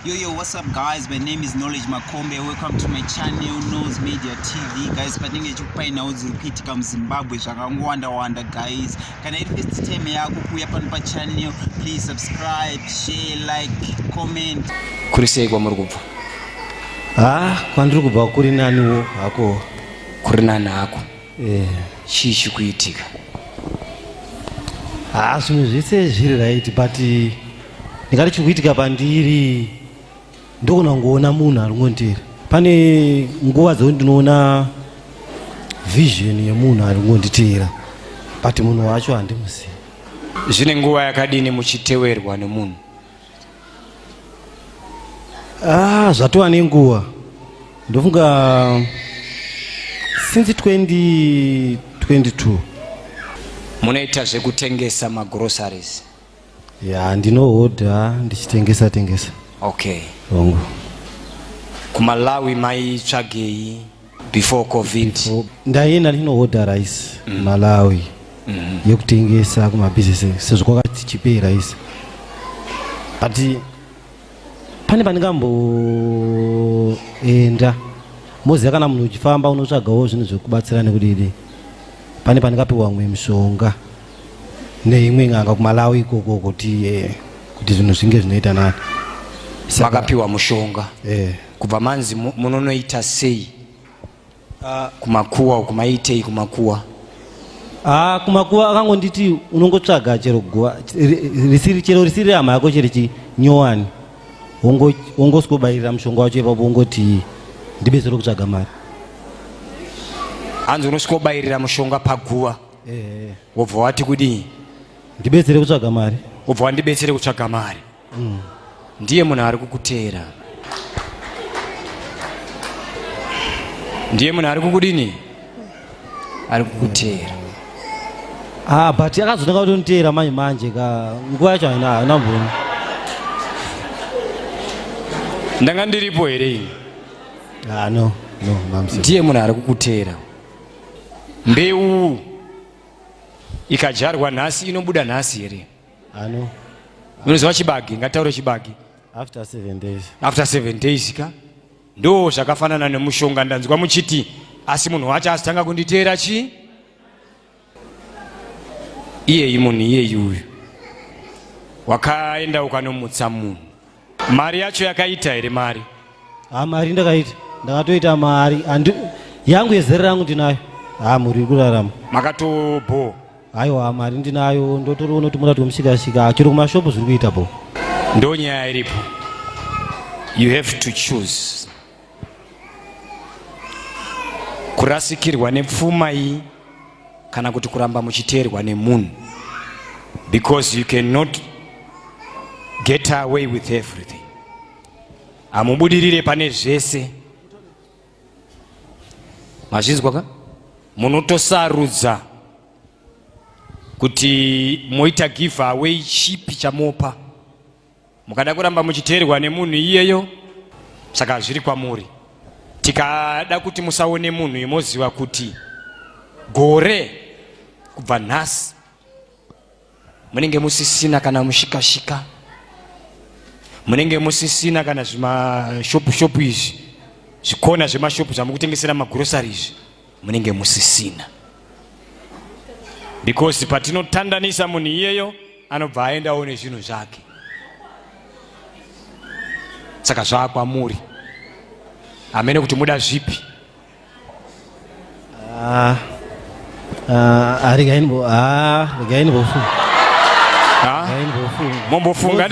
Yo, yo, what's up guys? My name is Knowledge Makombe. Welcome to my channel, Nose Media TV. Guys, patinenge chikupainawo dziri kuitika muZimbabwe zvakangowanda-wanda guys. Kana iri first time yako kuuya pano pachannel, please subscribe, share, like, comment. Kuri sei kwamuri kubva? Ah, kwandiri kubva kuri naniwo hako. Kuri nani hako? Eh, chii chikuitika haa ah, zvinhu zvese zviri right but eh, ndingati chiri kuitika pandiri ndokona kungoona munhu ari kungonditera pane nguva dzekuti ndinoona vision yemunhu ari kungonditera but munhu wacho handimuzivi zvine nguva yakadini muchitewerwa nemunhu Ah, zvatova nenguva ndofunga since 2022 munoita zvekutengesa magroceries ya ndinohodha ndichitengesa tengesa okay hongu kumalawi maitsvagei before covid ndaienda ndinohodha rice mm. malawi mm -hmm. yekutengesa kumabhizinesi sezvo kwakati chipei rice but pane pandingamboenda moziva kana munhu uchifamba unotsvagawo zvinhu zvekubatsira nekudidi pane pandingapiwa mwe mishonga neimwe n'anga kumalawi ikoko kuti eh, kuti zvinhu zvinge zvinoita nani makapiwa mushonga eh. kubva manzi munonoita sei ah. kumakuwa uku maitei kumakuwa ah, kumakuwa akangonditi unongotsvaga chero guva risiri chero risiri rehama yako chero chinyowani wongosikobairira mushonga wacho ipapo wongoti ndibetsere kutsvaga mari hanzi unosikobairira mushonga paguva eh. wobva wati kudii ndibetsere kutsvaga mari wobva wandibetsere kutsvaga mari mm. ndiye munhu ari kukuteera ndiye munhu ari kukudini ari kukuteera ah, but akazonaka kutoniteera manje manje ka nguva yacho haina haina mboni ndanga ndiripo here ini ah, no no mamsi ndiye munhu ari kukuteera mbeu ikadyarwa nhasi inobuda nhasi here Ano. Munoziva chibage, ngataure chibage. After seven days. After seven days ka? Ndo zvakafanana nemushonga ndanzwa muchiti asi munhu wacho asitanga kunditeera chi? Iyeyi munhu iyeyi uyu. Wakaenda ukanomutsa munhu. mari yacho yakaita here mari ha mari ndakaita ndakatoita mari andi yangu yezere rangu ndinayo ha mhuri iri kurarama makatobho haiwa mari ndinayo ndotoriona kuti murati wemushikashika chero kumashopu zviri kuita bho ndonyaya iripo you have to choose kurasikirwa nepfuma iyi kana kuti kuramba muchiteerwa nemunhu because you cannot get away with everything hamubudirire pane zvese mazvinzwa ka munotosarudza kuti moita give away chipi chamopa mukada kuramba muchiteerwa nemunhu iyeyo saka zviri kwamuri tikada kuti musaone munhu imoziva kuti gore kubva nhasi munenge musisina kana mushikashika munenge musisina kana zvimashopu shopu izvi zvikona zvemashopu zvamukutengesera magurosari izvi munenge musisina because patinotandanisa munhu iyeyo anobva aendawo nezvinhu zvake saka zvaakwamuri hamene kuti muda zvipi ah, ah, ah, mombofunga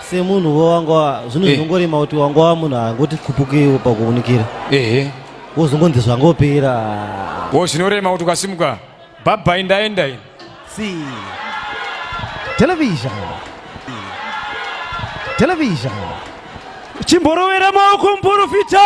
semunhu wo wanga zvinhu eh. zvongorema kuti wanga wa munhu angoti khupukiwo pakuunikira ehe wozongonzi zvangopera wo zvinorema kuti ukasimuka bhabha indaenda ini si television television chimborovera maoko muporofita